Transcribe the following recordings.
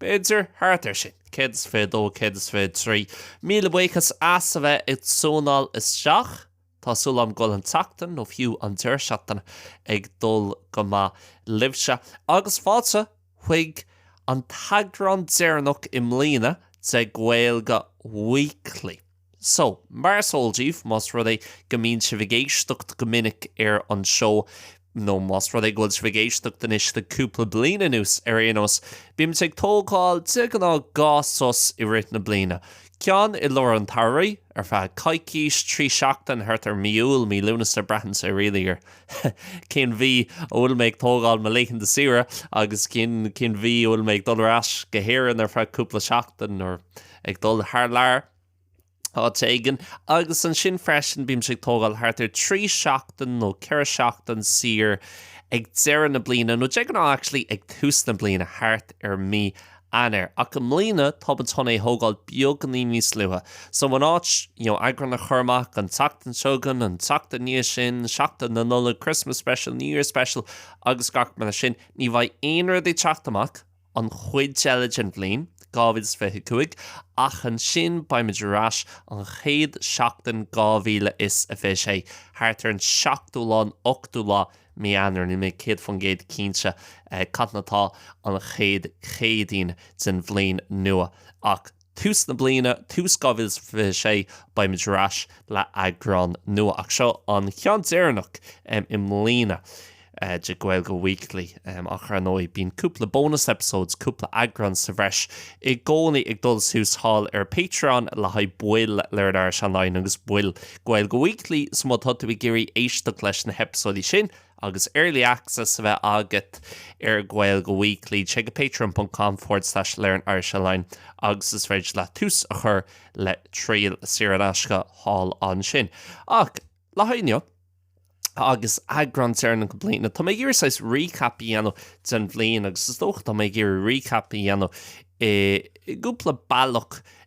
B'fhéidir thart ar sin. 122, 123, Míle buíochas as a bheith ag tiúnáil isteach. Tá súil agam go bhfuil an tseachtain, nó fiú an deireadh seachtaine, ag dul go maith libhse. Agus fáilte chuig an t-eagrán deireanach i mbliana de Gaeilge Weekly. So, mar is eol daoibh, más rud é go mbíonn sibh ag éisteacht go minic ar an seó, nó más rud é go bhfuil sibh ag éisteacht anois le cúpla bliain anuas ar aon nós, bímid ag tógáil de ghnáth dhá sos i rith na bliana. Ceann i lár an tsamhraidh, ar feadh coicís, trí sheachtain, thart ar mí Iúil, mí Lúnasa, braitheann sé really ar cén mhí a bhfuil mé ag tógáil mo laethanta saoire agus cén mhí a bhfuil mé ag dul ar ais go hÉirinn ar feadh cúpla seachtain or ag dul thar lear áit éigin agus ansin freisin bímse ag tógáil thart ar trí seachtain nó ceithre seachtain saor ag deireadh na bliana nó de ghnáth actually ag tús na bliana thart ar mí Eanáir ach i mbliana tá muid chun é thógáil beagainín níos luaithe so in áit you know eagrán a chur amach an tseachtain seo chugainn an tseachtain ina dhiaidh sin seachtain na Nollag Christmas special New Year special agus gach mar sin ní bheidh aon rud ag teacht amach an chuid eile den bhliain 2025, ach ansin beidh muid ar ais an chéad seachtain 2026, thart ar an seachtú lá, an ochtú lá Mí Eanáir, níl mé 100% cinnte cathain atá an chéad Chéadaoin den bhliain nua ach. Tús na bliana, tús 2026, beimid ar ais le heagrán nua, ach seo an ceann deireanach i mbliana de Gaeilge Weekly, ach ar ndóigh bíonn cúpla bonus episodes, cúpla eagrán sa bhreis, i gcónaí ag dul suas thall ar Patreon le haghaidh baill Learn Irish Online agus baill Gaeilge Weekly, so má tá tú ag iarraidh éisteacht leis na heipeasóidí sin, Agus early access a bheith agat ar Gaeilge Weekly, téigh chuig patreon.com forward slash learnirishonline agus is féidir leat tús a chur le triail saor in aisce thall ansin. Ach, le haghaidh inniu, agus eagrán deireanach na bliana, tá mé ag iarraidh saghas recap a dhéanamh den bhliain agus is dócha tá mé ag iarraidh recap a dhéanamh i gcúpla bealach.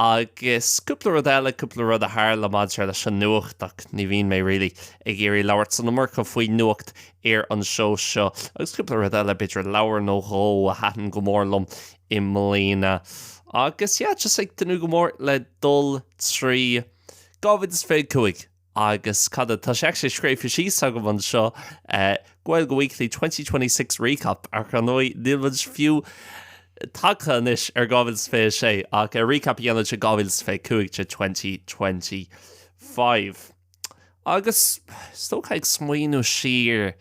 Agus cúpla rud eile, cúpla rud a tharla maidir leis an nuacht ach ní bhíonn mé really ag iarraidh labhairt san iomarca faoin nuacht ar an seó seo. Agus cúpla rud eile, b'fhéidir leabhar nó dhó a thaitin go mór liom i mbliana. Agus yeah, just ag tnúth go mór le dul trí 2025! Agus cad a. Tá sé actually scríofa síos agam anseo, Gaeilge Weekly twenty twenty six recap, ach ar ndóigh níl muid fiú tagtha anois ar 2026 ach ar recap a dhéanamh de 2025, de twenty twenty five. Agus is dócha ag smaoineamh siar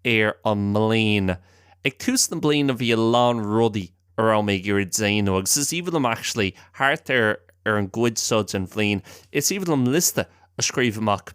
ar an mbliain, ag tús na bliana bhí a lán rudaí a raibh mé ag iarraidh déanamh, agus is aoibhinn liom actually, thart ar an gcuid seo den bhliain, is aoibhinn liom liosta a scríobh amach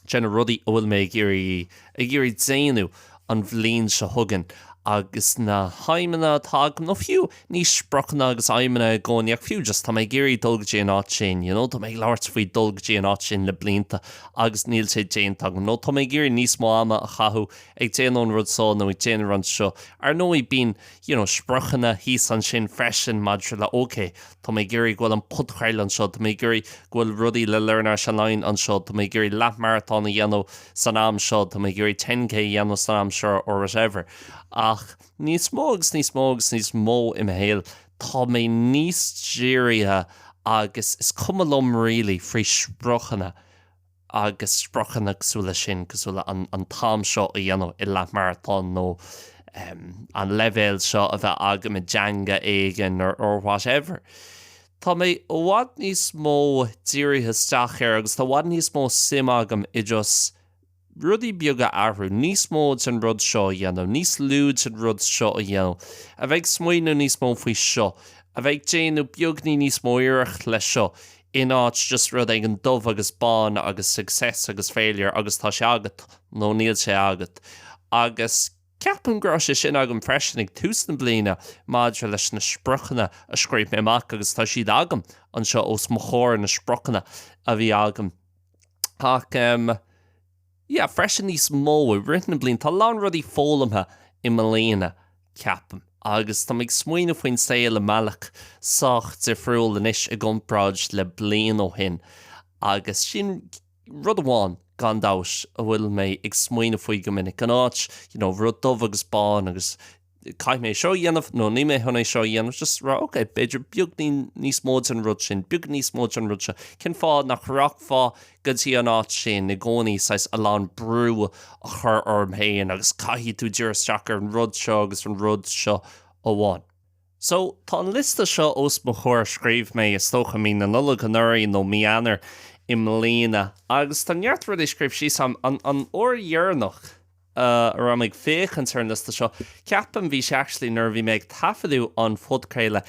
de na rudaí a bhfuil mé ag iarraidh déanamh an bhliain seo chugainn, agus na haidhmeanna atá agam, nó fiú, ní spriocanna agus aidhmeanna i gcónaí, ach fiú just, tá mé ag iarraidh dul go dtí an áit sin, you know, tá mé ag labhairt faoi dhul go dtí an áit sin le blianta agus níl sé déanta agam, nó tá mé ag iarraidh níos mó ama a chaitheamh ag déanamh an rud so nó ag déanamh an rud seo. Ar ndóigh, bíonn. you know, spriocanna thíos ansin freisin maidir le OK, tá mé ag iarraidh go bhfuil an podchraoladh anseo, tá mé ag iarraidh go bhfuil rudaí le Learn Irish Online anseo, tá mé ag iarraidh leath-maratón a dhéanamh san am seo, tá mé ag iarraidh 10K a dhéanamh san am seo or whatever. Ach níos mó agus níos mó agus níos mó i mo shaol tá mé níos dírithe agus is cuma liom really faoi spriocanna. agus spriocanna cosúil leis sin, cosúil le an t-am seo a dhéanamh i leathmharatón nó an leibhéal seo a bheith agam i dteanga éigin or whatever. Tá mé i bhfad níos mó dírithe isteach ar agus tá i bhfad níos mó suim agam i just rudaí beaga a athrú, níos mó den rud seo a dhéanamh, níos lú den rud seo a dhéanamh, a bheith ag smaoineamh níos mó faoi seo, a bheith ag déanamh beagní níos mó iarracht le seo. in áit just rud éigin dubh agus bán agus success agus failure agus tá sé agat nó níl sé agat. Agus ceapaim go raibh sé sin agam freisin ag tús na bliana maidir leis na spriocanna a scríobh mé amach agus tá siad agam anseo os mo chomhair, na spriocanna a bhí agam. Ach. yeah freisin níos mó i rith na bliana tá a lán rudaí foghlamtha i mbliana ceapaim agus tá mé ag smaoineamh faoin saol i mbealach sách difriúil anois i gcomparáid le bliain ó shin agus sin rud amháin gan dabht a bhfuil mé ag smaoineamh faoi go minic in áit you know rud dubh agus bán agus caithfidh mé seo a dhéanamh nó níl mé chun é seo a dhéanamh, just rá ok, b'fhéidir beagní níos mó den rud sin, beag níos mó den rud seo. Cén fáth nach rachfá go dtí an áit sin i gcónaí, saghas a lán brú a chur orm féin agus caithfidh tú díriú isteach ar an rud seo agus an rud seo amháin. So, tá an liosta seo os mo chomhair, scríobh mé is dócha i mí na Nollag anuraidh nó mí Eanáir i mbliana agus tá neart rudaí scríofa síos agam, an uair dheireanach. a raibh mé ag féachaint ar an liosta seo, ceapaim, bhí sé actually nuair a bhí mé ag taifeadadh an phodchraolta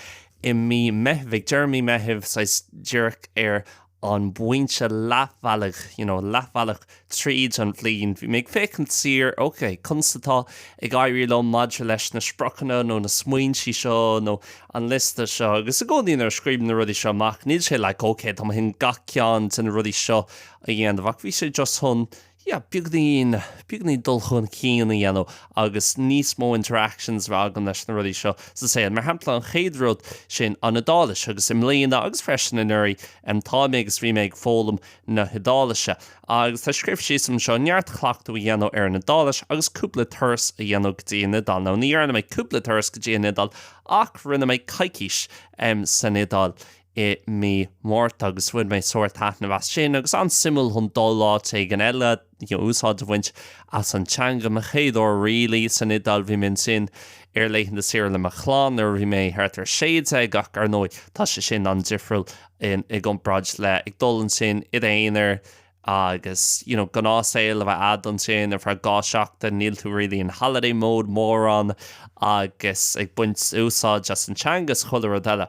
i mí Meithimh, ag deireadh mí Meithimh saghas díreach ar an bpointe leathbhealaigh, you know, leathbhealach tríd an bhliain, bhí mé ag féachaint siar, ok, conas atá ag éirí liom maidir leis na spriocanna nó na smaointí seo nó an liosta seo agus i gcónaí nuair a scríobhaim na rudaí seo amach, níl sé like, ok, tá mé chun gach ceann de na rudaí seo a dhéanamh ach bhí sé just chun, yeah beagainín beagainín dul chun cinn a dhéanamh agus níos mó interactions a bheith agam leis na rudaí seo sa saol. Mar shampla, an chéad rud, sin an Iodáilis agus i mbliana agus freisin anuraidh, em tá mé agus bhí mé ag foghlaim na hIodáilise agus tá scríofa síos anseo neart cleachtadh a dhéanamh ar an Iodáilis agus cúpla turas a dhéanamh go dtí an Iodáil. Now ní dhearna mé cúpla turas go dtí an Iodáil ach rinne mé coicís em san Iodáil. i mí Márta agus bhain mé sár taitneamh as sin agus an-suimiúil chun dul áit éigin eile, you know, úsáid a bhaint as an teanga. Mo chéad uair really san Iodáil, bhí mé ansin ar laethanta saoire le mo chlann nuair a bhí mé thart ar 16 ach ar ndóigh tá sé sin an-difriúil i gcomparáid le ag dul ansin i d'aonar, agus you know gnáthsaol a bheith a'd ansin ar feadh dhá seachtain, níl tú really in holiday mode mórán agus ag baint úsáid as an teanga is chuile rud eile.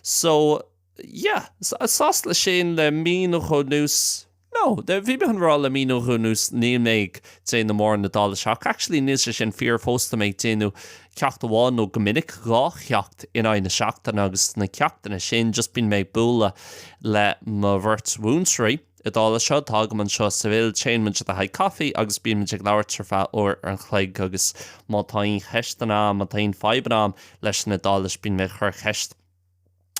So, yeah, sásta le sin, le mí nó dhó anuas, no, bhí mé chun rá le mí nó dhó anuas níl mé ag déanamh mórán Iodáilise ach actually níl sé sin fíor fós, tá mé ag déanamh ceacht amháin nó go minic dhá cheacht in aghaidh na seachtaine agus sna ceachtanna sin just bíonn mé ag bualadh le mo bheirt mhúinteoirí Iodáilise atá agam anseo i Seville, téann muid le haghaidh coffee agus bíonn muid ag labhairt ar feadh uair an chloig agus má tá aon cheisteanna agam, má tá aon fadhbanna agam leis an Iodáilis bíonn mé ag cur ceist.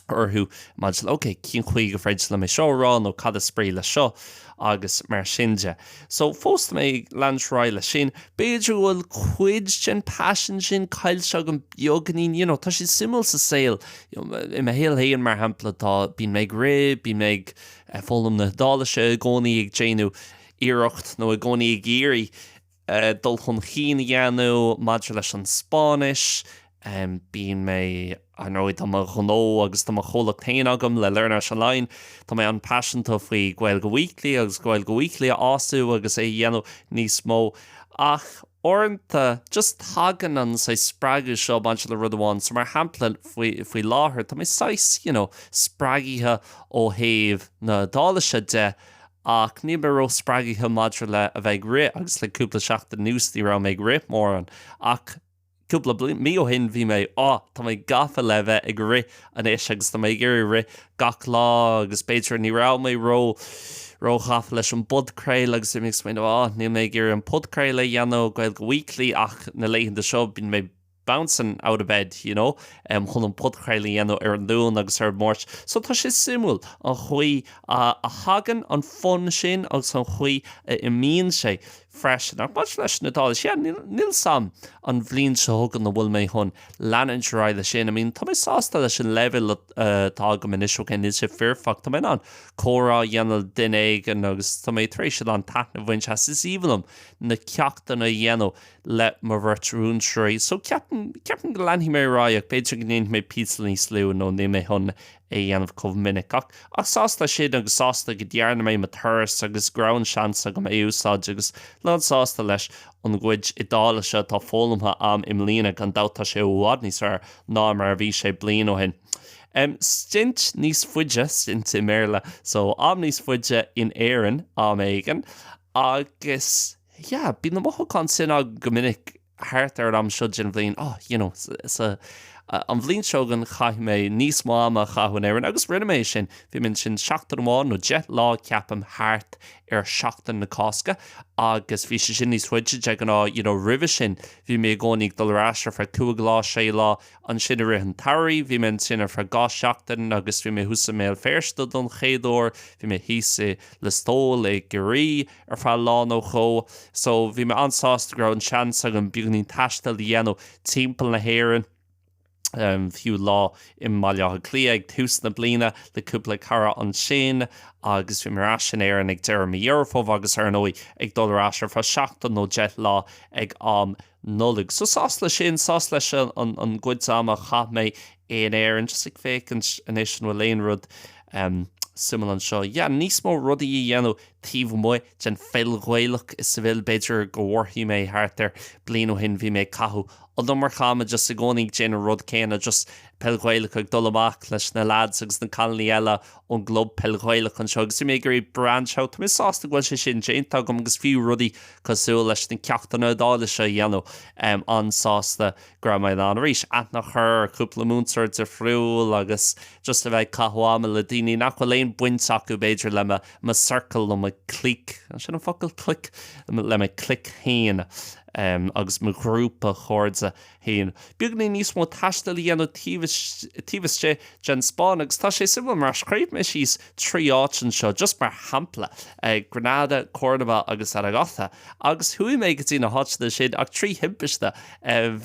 orthu maidir le ok, cén chaoi gur féidir liom é seo a rá nó cad is brí leis seo agus mar sin de. So, fós tá mé ag leanúint ar aghaidh leis sin. B'fhéidir go bhfuil cuid den passion sin caillte agam beagainín, you know, tá sé suimiúil sa saol, i mo shaol féin mar shampla tá, bíonn mé ag rith, bíonn mé ag foghlaim na hIodáilise i gcónaí, ag déanamh iarracht nó i gcónaí ag iarraidh, dul chun chinn a dhéanamh maidir leis an Spáinnis. Bíonn mé, ar ndóigh, tá mo ghnó agus tá mo chomhlacht féin agam le LearnIrish Online, tá mé an-paiseanta faoi Gaeilge Weekly agus Gaeilge Weekly a fhás agus é a dhéanamh níos mó ach uaireanta just tagann an saghas spreagadh seo maidir le rud amháin. So, mar shampla, faoi láthair, tá mé saghas, you know, spreagaithe ó thaobh na hIodáilise de ach níl mé ró-spreagaithe maidir le a bheith ag rith agus le cúpla seachtain anuas ní raibh mé ag rith mórán ach cúpla mí ó shin bhí mé, á, tá mé gafa le bheith ag rith anois agus tá mé ag iarraidh rith gach lá agus b'fhéidir ní raibh mé ró ró-ghafa leis an bpodchraoladh agus bhí mé ag smaoineamh á, níl mé ag iarraidh an podchraoladh a dhéanamh Gaeilge Weekly ach na laethanta seo bíonn mé bouncin' out of bed, you know, chun an podchraoladh a dhéanamh ar an Luan agus ar an Máirt. So tá sé suimiúil, an chaoi a thagann an fonn sin agus an chaoi a n-imíonn sé freisin. Ach maidir leis an Iodáilis, yeah, níl 's a'm an bhliain seo chugainn an bhfuil mé chun leanúint ar aghaidh leis sin. I mean, tá mé sásta leis an leibhéal atá agam anois, ok, níl sé foirfeacht. Tá mé in ann comhrá a dhéanamh le duine éigin agus tá mé tar éis a lán taitnimh a bhaint as. Is aoibhinn liom na ceachtanna a dhéanamh. le mo bheirt mhúinteoirí so ceapaim, ceapaim go leanfaidh mé ar aghaidh ach b'fhéidir go ndéanfaidh mé píosa níos lú nó níl mé chun é a dhéanamh chomh minic. Ach, ach sásta leis sin agus sásta go ndearna mé mo thuras agus go raibh an seans agam í a úsáid agus lánsásta leis an gcuid Iodáilise atá foghlamtha a'm i mbliana, gan dabht tá sé i bhfad níos fearr ná mar a bhí sé bliain ó shin. Em, stint níos faide, stint i mBéarla, so am níos faide in Éirinn am éigin agus. yeah, bíonn na mothúcháin sin agam go minic thart ar an am seo den bhliain, oh, you know, sa, an bhliain seo chugainn caithfidh mé níos mó ama a chaitheamh in Éirinn agus rinne mé é sin, bhí mé ansin seachtain amháin nó deich lá ceapaim thart ar Sheachtain na Cásca agus bhí sé sin níos faide de ghnáth, you know, roimhe sin bhí mé i gcónaí ag dul ar ais ar feadh cúig lá, sé lá, ansin i rith an tsamhraidh bhí mé ansin ar feadh dhá sheachtain agus bhí mé thuas i mBéal Feirste don chéad uair, bhí mé thíos i Listowel i gCiarraí, ar feadh lá nó dhó. So, bhí mé an-sásta go raibh an seans agam beagainín taistil a dhéanamh timpeall na hÉireann, em, fiú lá i mBaile Átha Cliath ag tús na bliana le cúpla cara ansin agus bhí mé ar ais in Éirinn ag deireadh mí Dheireadh Fómhair agus, ar ndóigh, ag dul ar ais ar feadh seachtain nó deich lá ag am na Nollaig. So sásta leis sin, sásta leis an gcuid ama a chaith mé in Éirinn, just ag féachaint anois an bhfuil aon rud suimiúil anseo. Yeah, níos mó rudaí a dhéanamh taobh amuigh den pheil Ghaelach is a bhfuil, b'fhéidir gur mhothaigh mé thart ar bliain ó shin bhí mé ag caitheamh an iomarca ama just i gcónaí ag déanamh an rud céanna, just peil Ghaelach, ag dul amach leis na lads agus na cailiní eile ón gClub Peil Ghaelach anseo agus imigh ar an Brand Show. Tá mé sásta go bhfuil sé sin déanta agam agus fiú rudaí cosúil leis na ceachtanna Iodáilise a dhéanamh, an-sásta go raibh mé in ann arís aithne a chur ar cúpla múinteoir difriúil agus just a bheith ag caitheamh ama le daoine nach bhfuil aon baint acu b'fhéidir le mo circle, le mo clique, an sin an focal, clique? le mo chlic féin agus mo ghrúpa chairde. féin, beagáinín níos mó taistil a dhéanamh taobh istigh den Spáinn agus tá sé suimiúil mar scríobh mé síos trí áit anseo just mar shampla, Granada, Córdoba agus Zaragoza agus chuaigh mé go dtí na háiteanna sin ach trí thimpiste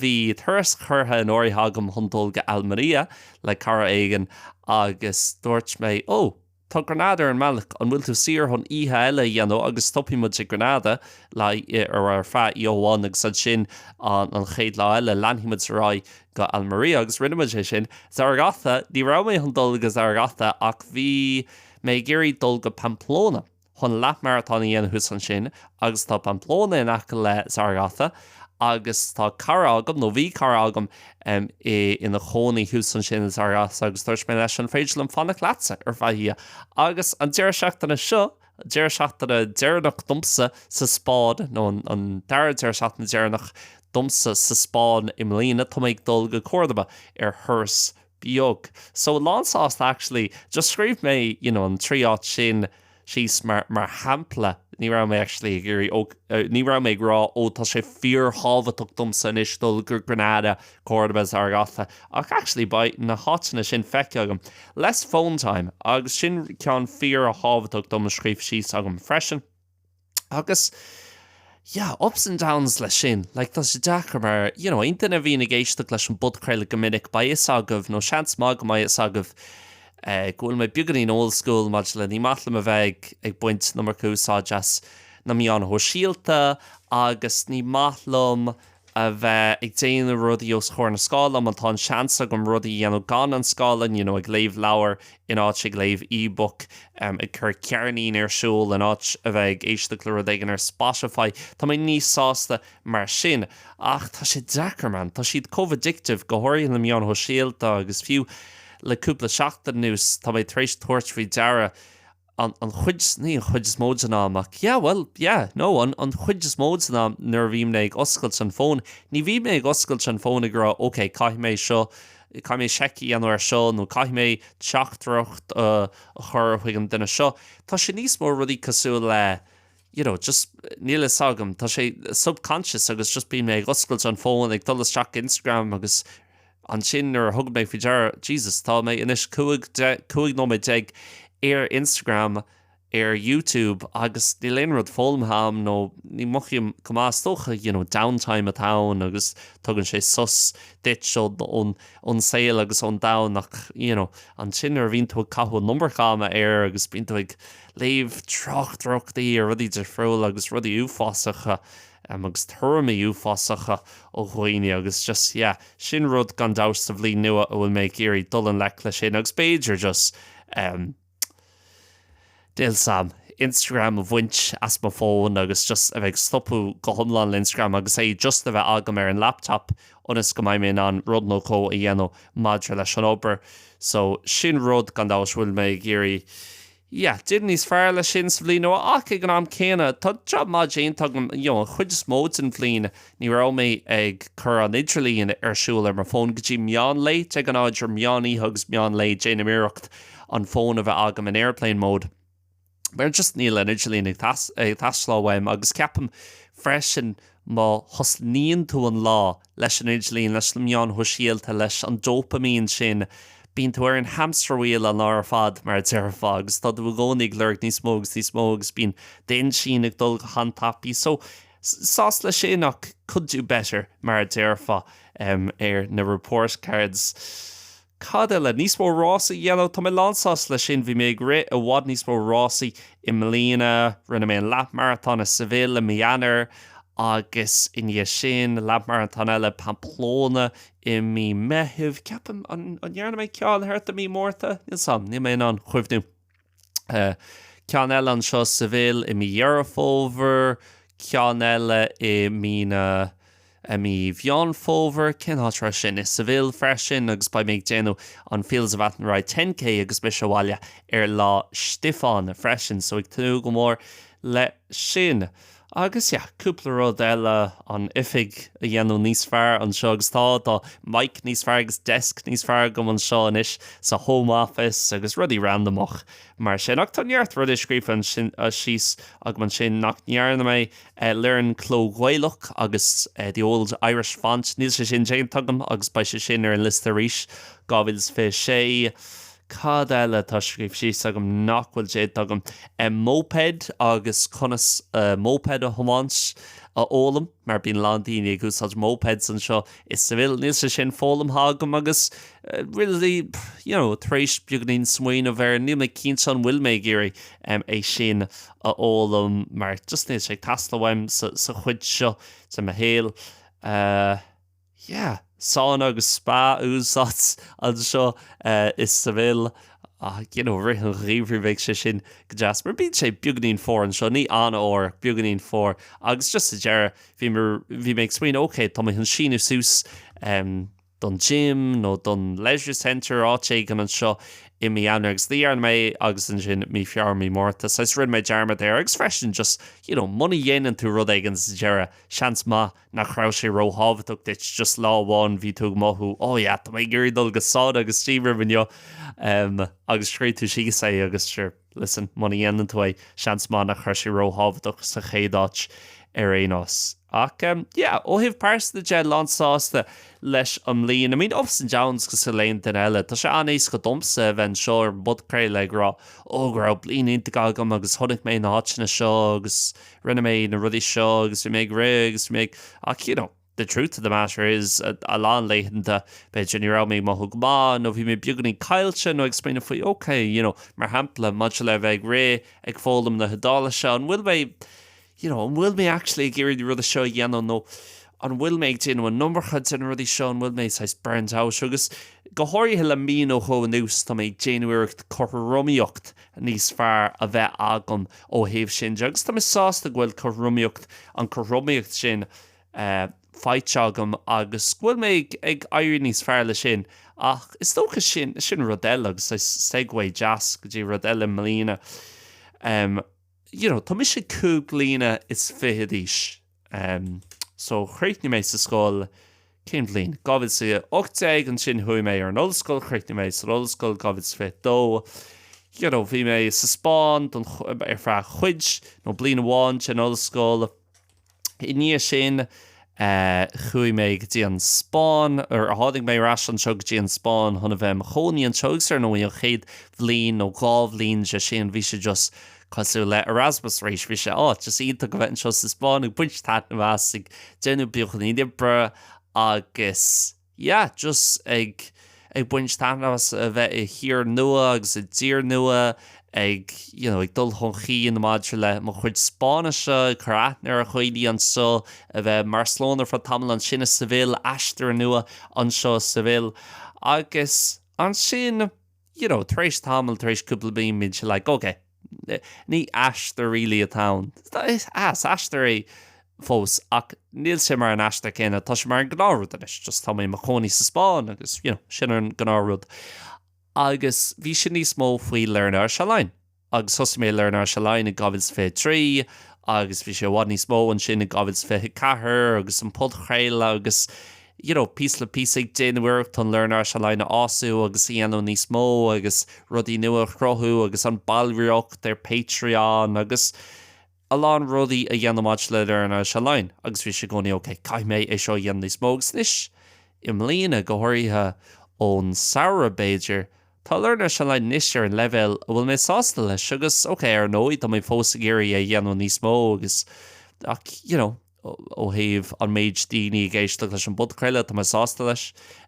bhí turas curtha in áirithe agam chun dul go Almería le cara éigin agus dúirt mé oh. Tá Granada ar an mbealach. An bhfuil tú saor chun oíche eile a dhéanamh agus stopfaidh muid i Granada ar feadh oíche amháin agus ansin an chéad lá eile leanfaidh muid ar aghaidh go Almería? Agus rinne muid é sin. Zaragoza, ní raibh mé chun dul go Zaragoza ach bhí mé ag iarraidh dul go Pamplona. chun leath maratón a dhéanamh thuas ansin agus tá Pamplona in aice le Zaragoza agus tá cara agam, nó bhí cara agam, ina chónaí thuas ansin i Zaragoza agus dúirt mé leis an féidir liom fanacht leatsa ar feadh oíche agus an deireadh seachtaine seo, deireadh seachtaine deireanach domsa sa Spáinn, nó an dara deireadh seachtaine deireanach domsa sa Spáinn i mbliana, tá mé ag dul go Córdoba ar thuras beag. So, lánsásta actually. Just scríobh mé you know an trí áit sin síos mar shampla. Ní raibh mé actually ag iarraidh oh ní raibh mé ag rá oh tá sé fíorthábhachtach domsa anois dul go Granada, Córdoba, Zaragoza ach actually beidh na háiteanna sin feicthe agam. Less phone time agus sin ceann fíorthábhachtach dom a scríobh síos agam freisin. Agus, yeah, ups and downs leis sin. Like, tá sé deacair mar, you know, aon duine a bhíonn ag éisteacht leis an bpodchraoladh go minic, beidh fhios agaibh, nó seans maith go mbeidh fhios agaibh, go bhfuil mé beagáinín old school maidir le ní maith liom a bheith ag baint an iomarca úsáid as na meáin shóisialta agus ní maith liom a bheith ag déanamh rudaí os comhair na scáileán mar tá an seans agam rudaí a dhéanamh gan an scáileán, you know, ag léamh leabhar in áit ag léamh e-book, ag cur ceirnín ar siúl in áit a bheith ag éisteacht le rud éigin ar Spotify. Tá mé níos sásta mar sin. Ach tá sé deacair, man. Tá siad chomh addictive, go háirithe na meáin shóisialta agus fiú le cúpla seachtain anuas tá mé tar éis tabhairt faoi deara, an, an chuid, ní an chuid is mó den am ach yeah, bhuel, yeah, no, an, an chuid is mó den am nuair a bhím mé ag oscailt an fón, ní bhím mé ag oscailt an fón ag rá ok, caithfidh mé seo, caithfidh mé seiceáil ar seo nó caithfidh mé teachtaireacht a chur chuig an duine seo. Tá sé níos mó rudaí cosúil le. you know, just, níl a fhios agam, tá sé subconscious agus just bím mé ag oscailt an fón, ag dul isteach Instagram agus ansin nuair a thugaim faoi deara, Jesus, tá mé anois cúig, deich, cúig nóiméad déag ar Instagram, ar YouTube agus níl aon rud foghlamtha a'm nó ní mothaím go maith, is dócha, you know, downtime atá ann agus tugann sé sos duit ón, ón, ón saol agus ón domhan ach, you know, ansin nuair a bhíonn tú ag caitheamh an iomarca ama air agus bíonn tú ag, léamh tráchtaireachtaí ar rudaí difriúla agus rudaí uafásacha agus tuairimí uafásacha ó dhaoine agus just yeah, sin rud gan dabht sa bhliain nua a bhfuil mé ag iarraidh dul i ngleic leis sin agus b'fhéidir just em b'fhéidir Instagram a bhaint as mo fón agus just a bheith ag stopadh go hiomlán le Instagram agus é just a bheith agam ar an laptop ionas go mbeidh mé in ann rud nó dhó a dhéanamh maidir leis an obair so sin rud, gan dabht, a bhfuil mé ag iarraidh yeah déanamh níos fearr leis sin sa bhliain nua ach ag an am céanna tá jab maith déanta agam you know an chuid is mó den bhliain ní raibh mé ag cur an idirlín ar siúl ar mo fón go dtí meán lae, de ghnáth idir meán oíche agus meán lae déanaim iarracht an fón a bheith agam in airplane mode. mar just níl an idirlíon ag teastáil uaim agus ceapaim freisin má thosnaíonn tú an lá leis an idirlíon, leis na meáin shóisialta, leis an dopamine sin, bíonn tú ar an hamster wheel an lá ar fad mar a déarfá agus tá tú i gcónaí ag lorg níos mó agus níos mó agus bíonn d'intinn ag dul go han-tapaidh so sásta leis sin ach could do better mar a déarfá ar na report cards. Cad eile? Níos mó rásaí, you know, tá mé lán sásta leis sin. Bhí mé ag rith i bhfad níos mó rásaí i mbliana. Rinne mé an leathmharatón i Seville i mí Eanáir agus i ndiaidh sin leathmharatón eile Pamplona i mí Meitheamh. Ceapaim, an ndearna mé ceann thart i mí Márta? Níl fhios agam, níl mé in ann cuimhniú. ceann eile anseo i Seville, i mí Dheireadh Fómhair, ceann eile i mí na, i mí Mheán Fómhair, cén áit a raibh sin? i Seville freisin agus beidh mé ag déanamh an Fields of Athenry 10K agus mise sa bhaile ar Lá Stiofáin freisin, so ag tnúth go mór le sin. Agus, yeah, cúpla rud eile, an oifig a dhéanamh níos fearr anseo agus tá, tá mic níos fearr agus desk níos fearr agam anseo anois sa Home Office agus rudaí randamach mar sin. Ach tá neart rudaí scríofa ansin, síos agam ansin nach ndearna mé. Learn Cló Gaelach, the Old Irish Font, níl sé sin déanta agam agus beidh sé sin ar an liosta arís, 2026. Cad eile atá scríofa síos agam nach bhfuil déanta agam? Moped agus conas moped a thiomáint a fhoghlaim, mar bíonn a lán daoine ag úsáid mopeds anseo i Seville. Níl sé sin foghlamtha agam agus really, you know, tar éis beagainín smaoineamh air, níl mé cinnte an bhfuil mé ag iarraidh é sin a fhoghlaim mar just níl sé ag teastáil uaim sa chuid seo de mo shaol. yeah. Sána agus spa a úsáid anseo i Seville ach you know i rith an gheimhridh beidh sé sin go deas mar bíonn sé beagainín fuar anseo, ní an-fhuar, beagainín fuar agus just sa deireadh bhí mé, bhí mé ag smaoineamh okay tá mé chun síniú suas don gym nó don leisure centre áit éigin anseo i mí Eanáir agus ní dhearna mé é agus ansin mí Feabhra, mí Márta so rinne mé dearmad air agus freisin just you know muna dhéanann tú rud éigin sa deireadh seans maith nach raibh sé róthábhachtach duit just lá amháin bhí tú ag mothú oh yeah tá mé ag iarraidh dul go sauna agus steam room inniu em agus scríobh tú síos é agus sure listen muna dhéanann tú é seans maith nach raibh sé róthábhachtach sa chéad áit ar aon nós ach em yeah ó thaobh pearsanta de lán sásta leis an mbliain I mean ups and downs cosúil le aon duine eile tá sé an-éasca domsa a bheith anseo ar an bpodchraoladh ag rá oh go raibh bliain iontach agam agus chonaic mé na háiteanna seo agus rinne mé na rudaí seo agus bhí mé ag rith agus bhí mé ag. Ach you know, the truth of the matter is, a lán laethanta, b'fhéidir, ní raibh mé ag mothú go maith nó bhí mé beagáinín caillte nó ag smaoineamh faoi ok, you know, mar shampla, maidir le bheith ag rith, ag foghlaim na hIodáilise, an bhfuil mé, you know, an bhfuil mé actually ag iarraidh na rudaí seo a dhéanamh nó an bhfuil mé ag déanamh an iomarca de na rudaí seo, an bhfuil mé saghas burnt out? Agus go háirithe le mí nó dhó anuas, tá mé ag déanamh iarracht cothromaíocht níos fearr a bheith agam ó thaobh sin de agus tá mé sásta go bhfuil cothromaíocht, an cothromaíocht sin, faighte agam agus go bhfuil mé ag éirí níos fearr leis sin. Ach is dócha sin, sin rud eile agus segue deas go dtí rud eile i mbliana, you know, tá mise cúig bliana is fiche d'aois, em, so chríochnaigh mé sa scoil, cén bhliain? Dhá mhíle is a hocht déag, ansin chuaigh mé ar an ollscoil, chríochnaigh mé san ollscoil dhá mhíle is a fiche dó, you know, bhí mé sa Spáinn don, ar feadh chuid, nó bliain amháin den ollscoil, i ndiaidh sin, eh, chuaigh mé go dtí an Spáinn, or tháinig mé ar ais anseo go dtí an Spáinn chun a bheith i mo chónaí anseo agus, ar ndóigh, an chéad bhliain nó dhá bhliain de sin, bhí sé just, Cosúil le Erasmus arís, bhí sé just iontach a bheith anseo sa Spáinn ag baint taitneamh as, ag déanamh beagáinín oibre agus yeah, just ag ag baint taitneamh as a bheith i thír nua agus i dtír nua, ag you know ag dul chun chinn maidir le mo chuid Spáinnise, ag ag cur aithne ar dhaoine anseo, a bheith i mBarcelona ar feadh tamaill, ansin i Seville, aistear nua anseo i Seville agus ansin, you know, tar éis tamaill, tar éis cúpla bliain, bhí sé like, okay, ní aistear really atá ann. Is aistear é fós ach níl sé mar an aistear céanna, tá sé mar an gnáth rud anois, just tá mé i mo chónaí sa Spáinn agus, you know, sin an gnáth rud. Agus bhí sé níos mó faoi Learn Irish Online. agus thosaigh mé Learn Irish Online i 2023 agus bhí sé i bhfad níos mó ansin i 2024 agus an podchraoladh agus you know píosa le píosa ag déanamh iarracht an Learn Irish Online a fhású agus a dhéanamh níos mó agus rudaí nua a chruthú agus an ballraíocht ar Patreon agus a lán rudaí a dhéanamh maidir le Learn Irish Online agus bhí sé i gcónaí ok, caithfidh mé é seo a dhéanamh níos mó agus anois, i mbliana, go háirithe ón samhradh b'fhéidir, tá Learn Irish Online anois ar an leibhéal a bhfuil mé sásta leis agus, ok, ar ndóigh, tá mé fós ag iarraidh é a dhéanamh níos mó agus ach, you know. ó thaobh an méid daoine ag éisteacht leis an bpodchraoladh, tá mé sásta leis.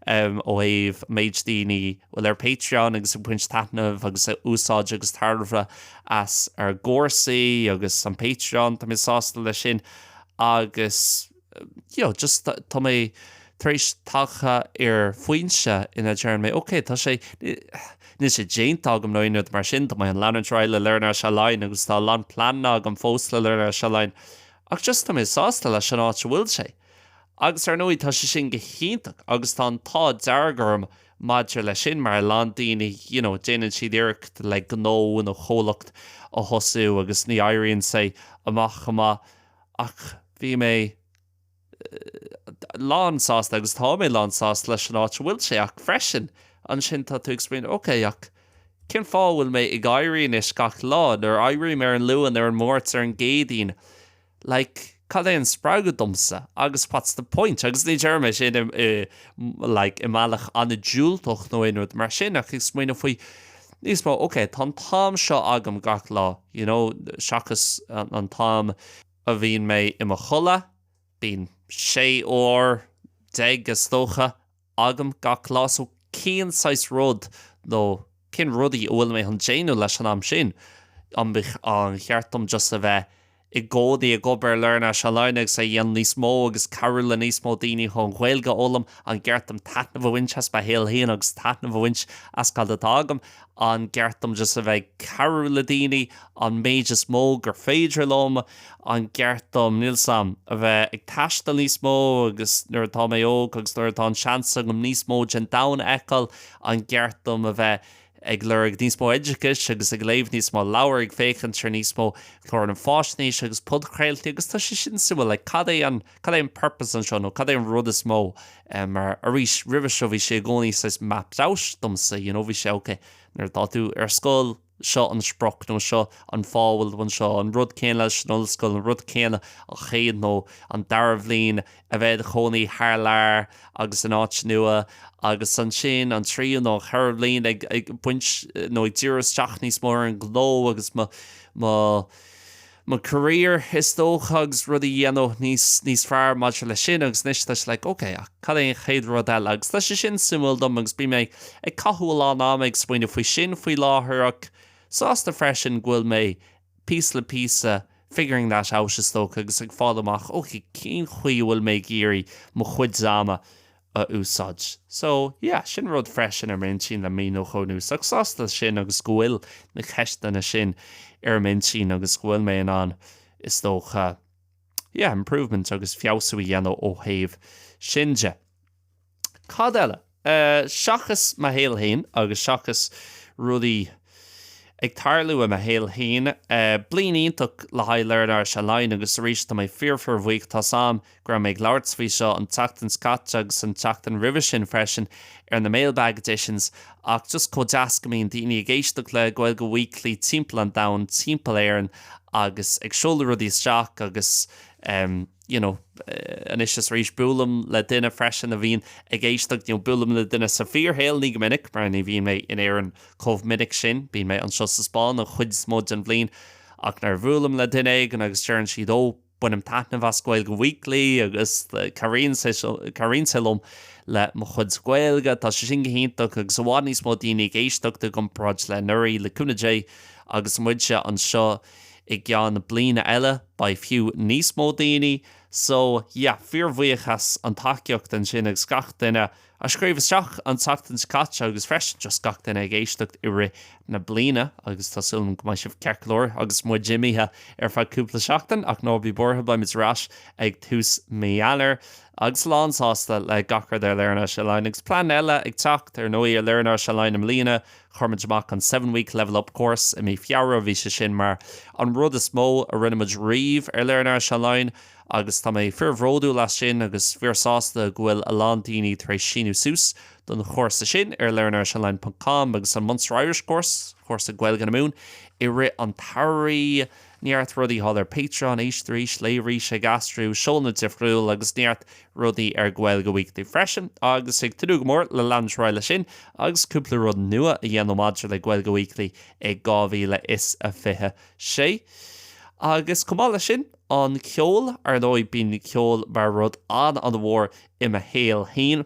Ó thaobh méid daoine a bhfuil ar Patreon agus ag baint taitneamh agus ag úsáid agus tairbhe as ár gcúrsaí agus an Patreon, tá mé sásta leis sin. Agus, you know, just tá mé tar éis tagtha ar foinse ina ndeir mé, ok, tá sé, níl sé déanta agam nó aon rud mar sin, tá mé ag leanúint ar aghaidh le Learn Irish Online agus tá a lán pleananna agam fós le Learn Irish Online, Ach just tá mé sásta leis an áit a bhfuil sé. Agus ar ndóigh tá sé sin go hiontach agus tá an t-ádh dearg orm maidir leis sin mar a lán daoine, you know, déanann siad iarracht le gnó nó comhlacht a thosú agus ní éiríonn sé amach chomh maith ach bhí mé lánsásta agus tá mé lánsásta leis an áit a bhfuil sé ach freisin ansin tá tú ag smaoineamh, okay, ach. Cén fáth a bhfuil mé ag éirí anois gach lá, nuair a éirím ar an Luan, ar an Máirt, ar an gCéadaoin? Like, cad é an spreagadh domsa? Agus what's the point? Agus ní deirim é sin i, i, like, i mbealach an-diúltach nó aon rud mar sin, ach ag smaoineamh faoi níos mó, ok, tá an t-am seo agam gach lá, you know, seachas an t-am a bhíonn mé i mo chodladh, bíonn sé uair déag is dócha agam gach lá so cén saghas rud nó cén rudaí a bhfuil mé chun déanamh leis an am sin? An gceart dom just a bheith i gcónaí ag obair ar Learn Irish Online agus é a dhéanamh níos mó agus cabhrú le níos mó daoine chun an Ghaeilge a fhoghlaim? An gceart dom taitneamh a bhaint as mo shaol féin agus taitneamh a bhaint as cad atá agam? an gceart dom just a bheith ag cabhrú le daoine an méid is mó gur féidir liom, an gceart dom, níl 's a'm, a bheith ag taisteal níos mó agus nuair atá mé óg agus nuair atá an seans agam níos mó den domhan a fheiceáil, an gceart dom a bheith ag lorg níos mó oideachais agus ag léamh níos mó leabhar, ag féachaint ar níos mó cláranna fáisnéise agus podchraoltaí agus tá sé sin suimiúil, like cad é an. Cad é an purpose anseo nó cad é an rud is mó eh, mar arís roimhe seo bhí sé i gcónaí saghas mapped out domsa, you know, bhí sé ok nuair atá tú ar scoil seo an sprioc nó seo an fáth a bhfuil tú anseo, an rud céanna leis an ollscoil, an rud céanna an chéad nó an dara bhliain a bheith i do chónaí thar lear agus in áit nua agus ansin an tríú nó an ceathrú bliain ag, ag baint nó ag díriú isteach níos mó ar an ghnó agus mo, mo. mo career is dócha agus rudaí a dhéanamh níos níos fearr maidir leis sin agus anois tá sé like ok ach cad é an chéad rud eile agus tá sé sin suimiúil dom agus bíonn mé ag caitheamh a lán ama ag smaoineamh faoi sin faoi láthair ach sásta freisin go bhfuil mé píosa le píosa figuring that out is dócha agus ag fáil amach ok cén chaoi a bhfuil mé ag iarraidh mo chuid ama a a úsáid. So, yeah, sin rud freisin ar m'intinn le mí nó dhó anuas ach sásta leis sin agus go bhfuil na ceisteanna sin ar m'intinn agus go bhfuil mé in ann, is dócha, yeah, improvement agus feabhsú a dhéanamh ó thaobh sin de. Cad eile? Eh, seachas mo shaol féin agus seachas rudaí ag tarlú i mo shaol féin, eh, bliain iontach le haghaidh Learn Irish Online agus arís, tá mé fíor-fíorbhuíoch, as an, go raibh mé ag labhairt faoi seo an tseachtain seo caite agus an tseachtain roimhe sin freisin ar na Mailbag Editions ach just chomh deas go mbíonn daoine ag éisteacht le Gaeilge Weekly timpeall an domhain, timpeall Éireann agus ag seoladh rudaí isteach agus em you know anois is arís buailim le duine freisin a bhíonn ag éisteacht, you know buailim le duine sa bhfíorshaol, ní go minic mar ní bhím in Éirinn chomh minic sin, bím anseo sa Spáinn an chuid is mó den bhliain ach nuair a bhuailim le duine éigin agus deireann siad oh. Bainim taitneamh as Gaeilge Weekly agus cabhraíonn sé liom le mo chuid Gaeilge. Tá sé sin go hiontach agus i bhfad níos mó daoine ag éisteacht i gcomparáid le anuraidh, le cúnamh Dé. Agus muide anseo i gceann bliana eile, beidh fiú níos mó daoine. So, yeah, fíorbhuíoch as an tacaíocht ansin agus gach duine. a scríobh isteach an tseachtain seo caite agus freisin just gach duine ag éisteacht i rith na bliana agus tá súil agam go mbeidh sibh ceart go leor agus muid imithe ar feadh cúpla seachtain ach ná bí buartha, beimid ar ais ag tús mí Eanáir agus lán sásta le gach rud ar Learn Irish Online agus plean eile ag teacht, ar ndóigh, ar Learn Irish Online i mbliana, chuir muid amach an Seven Week Level Up Course i mí Feabhra, bhí sé sin mar an rud is mó a rinne muid riamh ar Learn Irish Online agus tá mé fíorbhródúil as sin agus fíorsásta go bhfuil a lán daoine tar éis síniú suas don chúrsa sin ar learnirishonline ponc com agus an Munster Irish Course, cúrsa Gaeilge na Mumhan, i rith an tsamhraidh. Neart rudaí thall ar Patreon, éist arís, léigh arís, ag aistriú, seóanna difriúil agus neart rudaí ar Gaeilge Weekly freisin agus ag tnúth go mór le leanúint ar aghaidh leis sin agus cúpla rud nua a dhéanamh maidir le Gaeilge Weekly i 2026. Agus chomh maith leis sin. An ceol, ar ndóigh, bíonn ceol mar rud an-an-mhór i mo shaol féin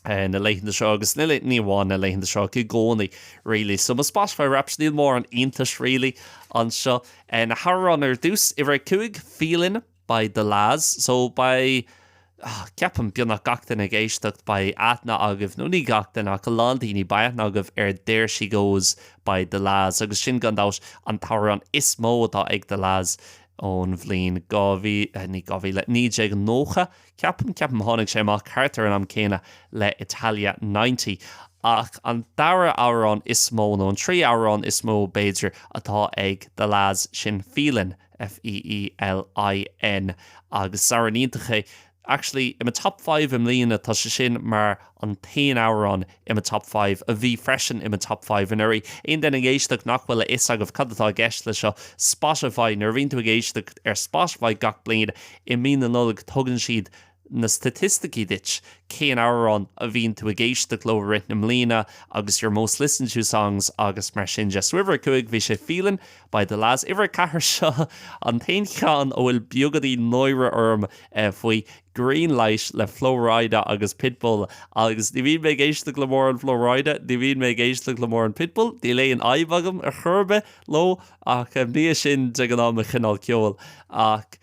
na laethanta seo agus ní amháin na laethanta seo, i gcónaí really. So mo Spotify Wrapped, níl mórán iontais really anseo. Na hamhráin ar dtús, uimhir a cúig, Feelin' by The La's. So beidh. Ceapaim, beagnach gach duine ag éisteacht, beidh aithne agaibh, nó ní gach duine, ach a lán daoine, beidh aithne agaibh ar There She Goes by The La's, agus sin, gan dabht, an t-amhrán is mó atá ag The La's ón mbliain dhá mhíle, ní dhá mhíle, 1990, ceapaim, ceapaim, tháinig sé amach thart ar an am céanna le Italia Ninety. Ach an dara amhrán is mó, nó an tríú amhrán is mó, b'fhéidir, atá ag The La's, sin Feelin'. F-e-e-l-i-n agus amhrán iontach é. Actually in my top five i mbliana tá sé sin mar an t-aon amhrán in my top five a bhí freisin in my top five anuraidh. Aon duine ag éisteacht nach bhfuil a fhios agaibh cad atá i gceist leis seo, Spotify, nuair a bhíonn tú ag éisteacht ar Spotify gach bliain i mí na Nollag tugann siad na staitisticí duit cén amhrán a bhíonn tú ag éisteacht leo i rith na mbliana agus your most listened to songs agus mar sin de. So uimhir a cúig bhí sé Feelin' by The La's. Uimhir a ceathair seo an t-aon cheann a bhfuil beagáinín náire orm faoi, Green Light le Flo Rida agus Pitbull agus ní bhíonn mé ag éisteacht le mórán Flo Rida, ní bhíonn mé ag éisteacht le mórán Pitbull, níl aon fhadhb agam ar chor ar bith leo ach ní hé sin de ghnáth mo chineál ceoil ach.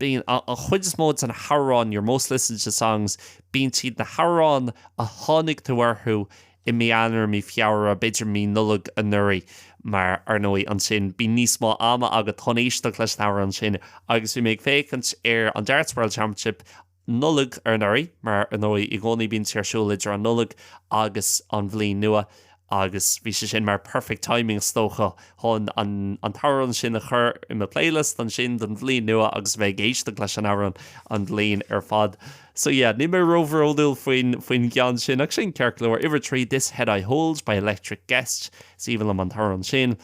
Bíonn an chuid is mó de na hamhráin, your most listened to songs, bíonn siad, na hamhráin a tháinig tú orthu i mí Eanáir, mí Feabhra, b'fhéidir mí Nollag anuraidh, mar ar ndóigh ansin bíonn níos mó ama agat chun éisteacht leis na hamhráin sin agus bhí mé ag féachaint ar an Darts World Championship Nollaig anuraidh, mar ar ndóigh i gcónaí bíonn sé ar siúl idir an Nollaig agus an bhliain nua agus bhí sé sin mar perfect timing is dócha chun an t-amhrán sin a chur i mo playlist ansin don bhliain nua agus a bheith ag éisteacht leis an amhrán an bhliain ar fad. So yeah, níl mé róbhródúil faoin gceann sin ach sin ceart go leor. Uimhir 3, This Head I Hold by Electric Guest, is aoibhinn liom an t-amhrán sin.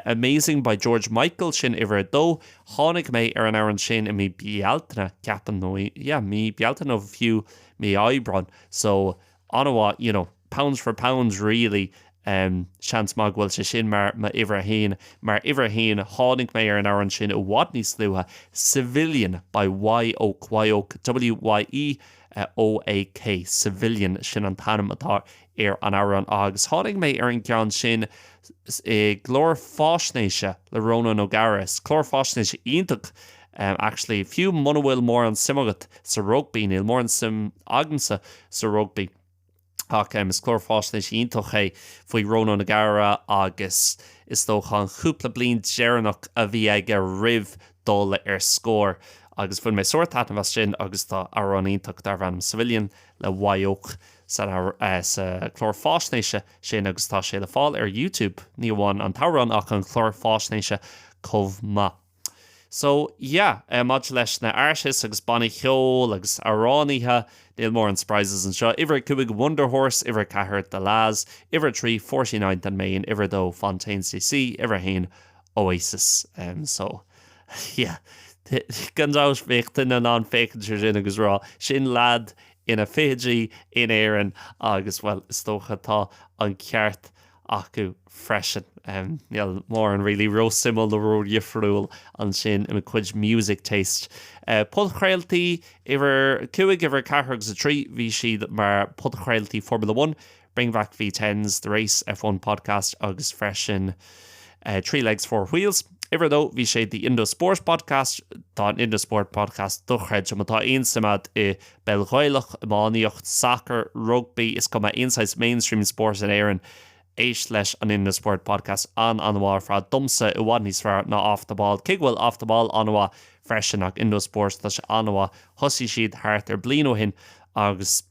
Amazing by George Michael, sin uimhir 2. Tháinig mé ar an amhrán sin i mí Bealtaine, ceapaim, nó i, yeah, mí Bealtaine nó fiú mí Aibreáin, so, an-mhaith, you know, pounds for pounds really, em, seans maith go bhfuil sé sin mar m'uimhir a haon, mar uimhir a haon, tháinig mé ar an amhrán sin i bhfad níos luaithe, Civilian by Wye Oak, Wye Oak, W-Y-E-O-A-K, Civilian, sin an t-ainm atá ar an amhrán agus tháinig mé ar an gceann sin i gclár fáisnéise le Ronan O'Gara. Is clár fáisnéise iontach é actually, fiú muna bhfuil mórán suim agat sa rugbaí, níl mórán suim agamsa sa rugbaí ach is clár fáisnéise iontach é faoi Ronan O'Gara agus is dócha an cúpla bliain deireanach a bhí aige roimh dul ar scor agus bhain mé sárthaitneamh as sin agus tá amhrán iontach darb ainm 'Civilian' le Wye Oak sa chlár fáisnéise sin agus tá sé le fáil ar Youtube, ní amháin an t-amhrán ach an clár fáisnéise chomh maith. So, yeah, maidir leis na artists agus bannaí cheoil agus amhránaithe, níl mórán surprises anseo, uimhir a cúig Wunderhorse, uimhir a ceathair The La's, uimhir a trí Forty Ninth and Main, uimhir a dó Fontaines D.C. uimhir a haon Oasis. So. Yeah. Gan dabht, bheadh tú in ann féachaint ar sin agus a rá, sin leaid ina fichidí in Éirinn agus, bhuel, is dócha tá an ceart acu freisin. Níl mórán really ró-suimiúil nó ró-dhifriúil ansin i mo chuid music taste. Podchraoltaí, uimhir a cúig, uimhir a ceathair agus a trí, bhí siad mar phodchraoltaí Formula One, Bring Back V10s, The Race, F1 Podcast agus freisin Three Legs, Four Wheels. Uimhir a dó, bhí sé The Indo Sport Podcast. Tá an Indo Sport Podcast dochreidte. Má tá aon suim agat i bpeil Ghaelach, iománaíocht, sacar, rugbaí, is cuma, aon saghas mainstream sport in Éirinn, éist leis an Indo Sport Podcast. An-an-mhaith ar fad. Domsa, i bhfad níos fearr ná Off The Ball. Cé go bhfuil Off The Ball an-mhaith freisin, ach Indo Sport, tá sé an-mhaith. Thosaigh siad thart ar bliain ó shin agus.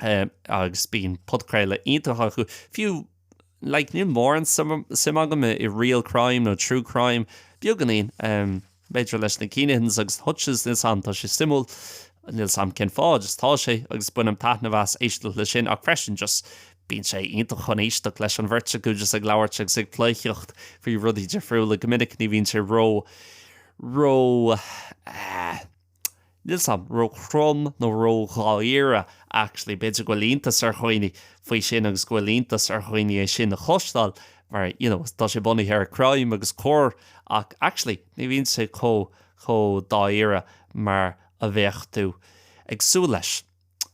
agus bíonn podchraoladh iontach acu. Fiú, like, níl mórán suim agam i real crime nó true crime, beagáinín, b'fhéidir leis na Kinahans agus na Hutches níl a fhios agam, tá sé suimiúil, níl a fhios agam cén fáth, just tá sé, agus bainim taitneamh as éisteacht leis sin, ach freisin just bíonn sé iontach chun éisteacht leis an bheirt acu just ag labhairt agus ag pleidhcíocht faoi rudaí difriúla, go minic ní bhíonn sé ró, ró, eh, níl a fhios agam ró-throm nó ró-dháiríre, actually. B'fhéidir go bhfuil iontas ar dhaoine faoi sin agus go bhfuil iontas ar dhaoine é sin a chloisteáil mar, you know, tá sé bunaithe ar crime agus coir ach actually ní bhíonn sé chomh, chomh dáiríre mar a bheadh tú ag súil leis.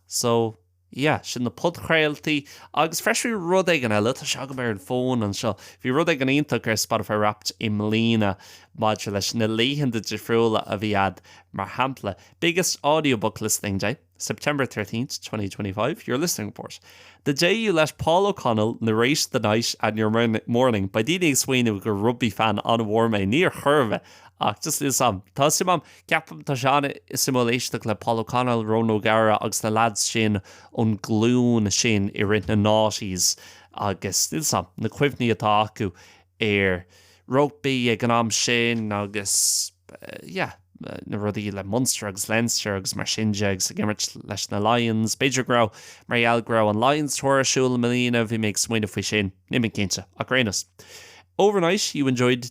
So. Yeah, sin na podchraoltaí. Agus freisin bhí rud éigin eile, tá sé agam ar an bhfón anseo, bhí rud éigin iontach ar Spotify Wrapped i mbliana maidir leis na laethanta difriúla a bhí agat, mar shampla, Biggest audiobook listening day, September 13th, 2025, your listening report, The day you let Paul O'Connell narrate the night and your morning, beidh daoine ag smaoineamh gur rugbaí fan an-mhór mé, níor chuir mé, ach just níl a fhios agam, tá suim agam. Ceapaim tá sé an-suimiúil éisteacht le Paul O'Connell, Ronan O'Gara agus na leaids sin ón ghlúin sin i rith na noughties agus níl a fhios agam, na cuimhní atá acu ar rugbaí ag an am sin agus yeah, na rudaí le Munster agus Leinster agus mar sin de agus ag imirt leis na Lions. B'fhéidir go raibh mar gheall go raibh an Lions Tour ar siúl i mbliana, bhí mé ag smaoineamh faoi sin, níl mé cinnte ach ar aon nós. Overnight, you enjoyed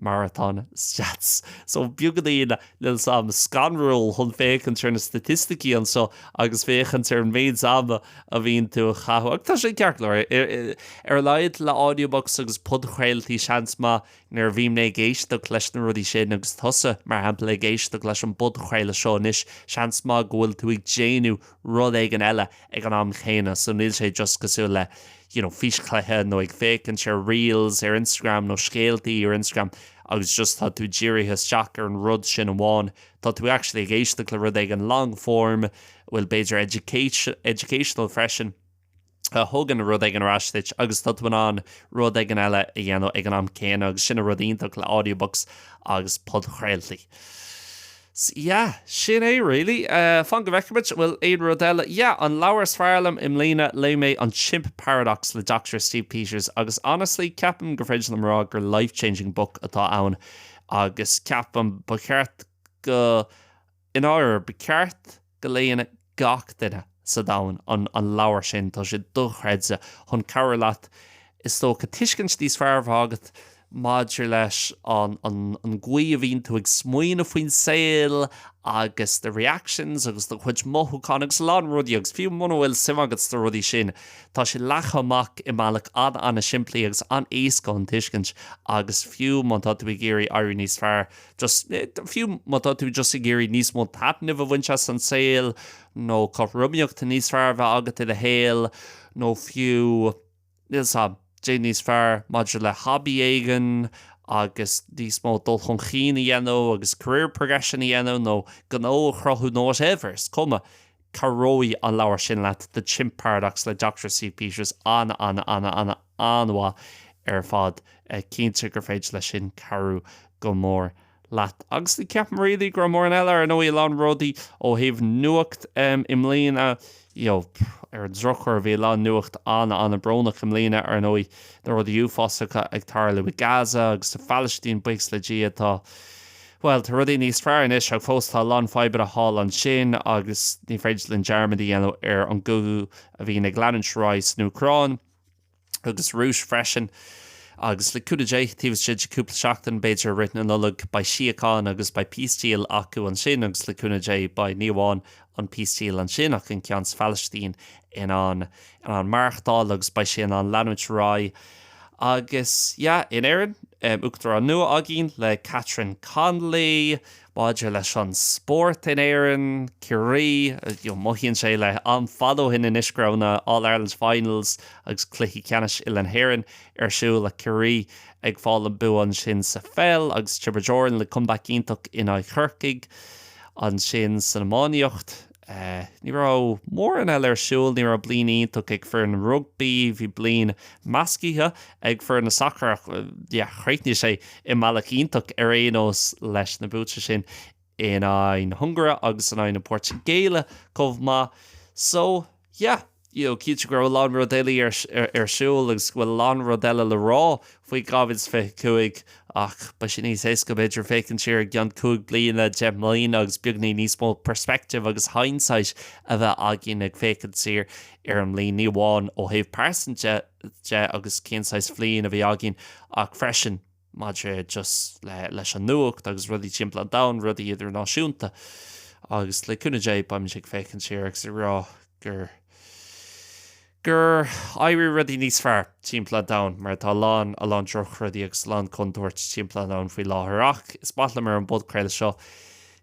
marathon stats. So beagáinín níl a fhios agam scanrúil chun féachaint ar na staitisticí anseo agus féachaint ar an méid ama a bhíonn tú a chaitheamh ach tá sé ceart go leor. Ar a laghad le audiobooks agus podchraoltaí seans maith nuair a bhíonn mé ag éisteacht leis na rudaí sin agus tusa mar shampla ag éisteacht leis an bpodchraoladh seo anois seans maith go bhfuil tú ag déanamh rud éigin eile ag an am céanna. So níl sé just cosúil le you know físchluiche nó ag féachaint ar reels ar Instagram nó scéaltaí ar Instagram agus just tá tú dírithe isteach ar an rud sin amháin. Tá tú actually ag éisteacht le rud éigin long form a bhfuil b'fhéidir educational freisin. a thugann rud éigin ar ais duit agus tá tú in ann rud éigin eile a dhéanamh ag an am céanna agus sin an rud iontach le audiobooks agus podchraoltaí. So, yeah, sin é really. Uh, Fan go bhfeice muid bhfuil aon rud eile. Yeah, an leabhar is fearr liom i mbliana léigh mé an Chimp Paradox le Dr. Steve Peters agus honestly ceapaim gur féidir liom rá gur life-changing book atá ann agus ceapaim ba cheart go i ndáiríre, ba cheart go léann gach duine sa domhan an leabhar sin, tá sé dochreidte, chun cabhrú leat, is dócha, tuiscint níos fearr a bheith agat maidir leis an an an gcaoi a bhíonn tú ag smaoineamh faoin saol agus do reactions agus do chuid mothúchán agus a lán rudaí agus fiú muna bhfuil suim agat sna rudaí sin, tá sé leagtha amach i mbealach an-an-simplí agus an-éasca chun tuiscint agus fiú má tá tú ag iarraidh éirí níos fearr just, fiú má tá tú just ag iarraidh níos mó taitnimh a bhaint as an saol, nó cothromaíocht níos fearr a bheith agat i do shaol, nó fiú, níl 's agam, éirí níos fearr maidir le hobby éigin, agus níos mó dul chun chinn a dhéanamh, agus career progression a dhéanamh, nó gnó a chruthú, nó whatever, is cuma. Cabhróidh an leabhar sin leat, The Chimp Paradox le Doctor Steve Peters, an-an-an-an-an-an-an-mhaith ar fad. Cinnte gur féidir leis sin cabhrú go mór leat. Agus ní cheapaim really go raibh mórán eile, ar ndóigh a lán rudaí ó thaobh nuacht i mbliana, you know ar an drochuair bhí a lán nuacht an-an-an-brónach i mbliana, ar ndóigh, na rudaí uafásacha ag tarlú i Gaza agus sa Phalaistín, buíochas le Dia tá, Bhuel, tá rudaí níos fearr anois, ach fós tá a lán fadhbanna thall ansin agus ní féidir linn dearmad a dhéanamh ar an gcogadh a bhíonn ag leanúint ar aghaidh san Úcráin agus sa Rúis freisin. Agus le cúnamh Dé, taobh istigh de cúpla seachtain, b'fhéidir, i rith na Nollag, beidh síocháin agus beidh peace deal acu ansin agus le cúnamh Dé beidh ní amháin an peace deal ansin ach an ceann sa Phalaistín in ann in ann maireachtáil agus beidh sé in ann leanúint ar aghaidh agus yeah in Éirinn um uachtarán nua againn le Catherine Connolly maidir leis an spórt in Éirinn Ciarraí you mothaíonn sé like an-fhada ó shin anois go raibh na All Ireland finals agus cluichí ceannais uile na hÉireann ar siúl le Ciarraí ag fáil an bua ansin sa pheil agus Tiobraid Árann le comeback iontach in aghaidh Chorcaigh. Ansin san iománaíocht, ní raibh mórán eile ar siúl, ní raibh bliain iontach ag an bhfoireann rugbaí, bhí bliain meascaithe ag foireann an sacair ach yeah chríochnaigh sé i mbealach iontach ar aon nós leis na buaite sin in aghaidh na hUngáire agus in aghaidh na Portaingéile chomh maith. So. yeah, you know cinnte go raibh a lán rudaí eile ar siúl agus go bhfuil a lán rudaí eile le rá faoi 2025 ach beidh sé níos éasca b'fhéidir féachaint siar i gceann cúig bliana, deich mbliana agus beagáinín níos mó perspective agus hindsight a bheith againn ag féachaint siar ar an mbliain, ní amháin ó thaobh pearsanta de agus cén saghas bhliain a bhí againn ach freisin. maidir just leis an nuacht agus rudaí timpeall an domhain, rudaí idirnáisiúnta. Agus le cúnamh Dé, beimid ag féachaint siar agus ag rá gur, gur éirigh rudaí níos fearr timpeall an domhain mar tá a lán, a lán drochrudaí agus a lán contúirt timpeall an domhain faoi láthair. Ach is maith liomsa ar an bpodchraoladh seo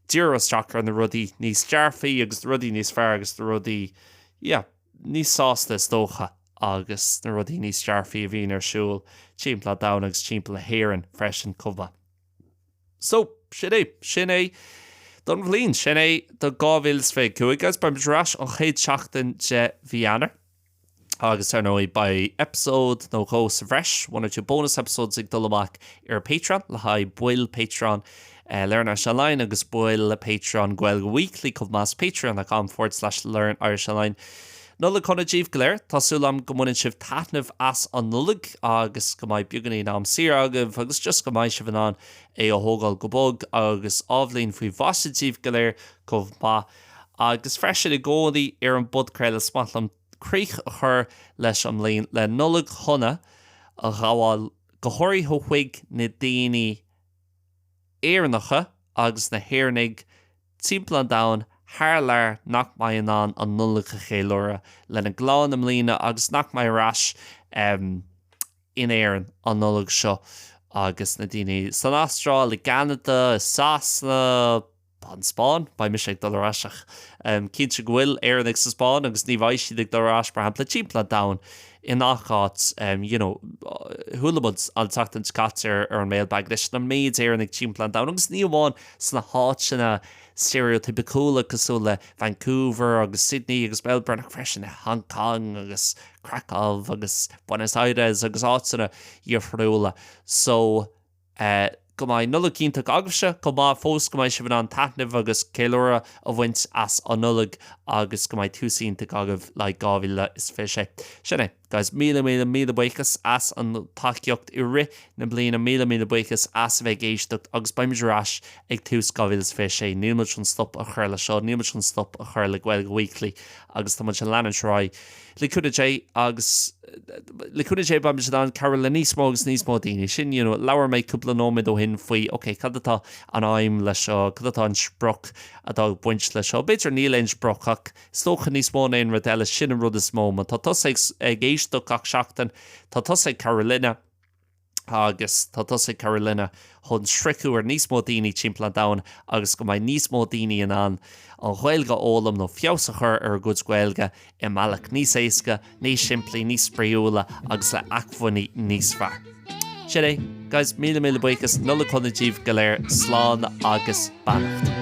díriú isteach ar na rudaí níos dearfaí agus na rudaí níos fearr agus na rudaí, yeah. níos sásta is dócha agus na rudaí níos dearfaí a bhíonn ar siúl timpeall an domhain agus timpeall na hÉireann freisin chomh maith. So, sin é. Sin é don bhliain. Sin é do 2025. Agus beimid ar ais an chéad seachtain de mhí Eanáir. Agus ar ndóigh, beidh eipeasóid nó dhó sa bhreis, one or two bonus episodes, ag dul amach ar Patreon le haghaidh baill Patreon. Learn Irish Online agus baill Patreon Gaeilge Weekly chomh maith, patreon.com forward slash learnirishonline. Nollaig Shona díbh go léir, tá súil agam go mbaineann sibh taitneamh as an Nollaig agus go mbeidh beagáinín am saor agaibh agus just go mbeidh sibh in ann é a thógáil go bog agus athbhliain faoi mhaise díbh go léir chomh maith. Agus freisin i gcónaí ar an bpodchraoladh, is maith liom críoch a chur leis an mbliain le Nollaig Shona a ghabháil go háirithe chuig na daoine Éireannacha agus na hÉireannaigh timpeall an domhain thar lear nach mbeidh in ann an Nollaig a cheiliúradh lena gclann i mbliana agus nach mbeidh ar ais in Éirinn an Nollaig seo agus na daoine san Astráil, i gCeanada, i Sasana. An Spáinn, beidh mise ag dul ar ais ach cinnte go bhfuil Éireannaigh sa Spáinn agus ní bheidh siad ag dul ar ais, mar shampla, timpeall an domhain i ngach áit you know chuala muid an tseachtain seo caite ar an Mailbag leis na méid Éireannaigh timpeall an domhain agus ní amháin sna háiteanna stereotypicúla cosúil le Vancouver agus Sydney agus Melbourne ach freisin i Hong Kong agus Krakow agus Buenos Aires agus áiteanna difriúla so Go mbeidh Nollaig iontach agaibhse chomh maith fós, go mbeidh sibh in ann taitneamh agus ceiliúradh a bhaint as an Nollaig agus go mbeidh tús iontach agaibh le 2026. Sin é, guys, míle míle míle buíochas as an tacaíocht i rith na bliana, míle míle buíochas as a bheith ag éisteacht agus beimid ar ais ag tús 2026. Níl muid chun stop a chur le seo, níl muid chun stop a chur le Gaeilge Weekly agus tá muid ag leanúint ar aghaidh. le cúnamh Dé agus le cúnamh Dé beidh muid in ann cabhrú le níos mó agus níos mó daoine. Sin, you know, labhair mé cúpla nóiméad ó shin faoi, okay, cad atá an aidhm leis seo, cad atá an sprioc atá ag baint leis seo. B'fhéidir níl aon sprioc ach is dócha níos mó ná aon rud eile, sin an rud is mó. Má tá tusa ag éisteacht gach seachtain, tá tusa ag cabhrú linne. agus tá tusa ag cabhrú linne chun sroicheadh ar níos mó daoine timpeall an domhain agus go mbeidh níos mó daoine in ann an Ghaeilge a fhoghlaim nó feabhas a chur ar a gcuid Gaeilge i mbealach níos éasca, níos simplí, níos spraíúla agus le acmhainní níos fearr. Sin é, guys, míle míle buíochas, Nollaig Shona díbh go léir, slán agus beannacht.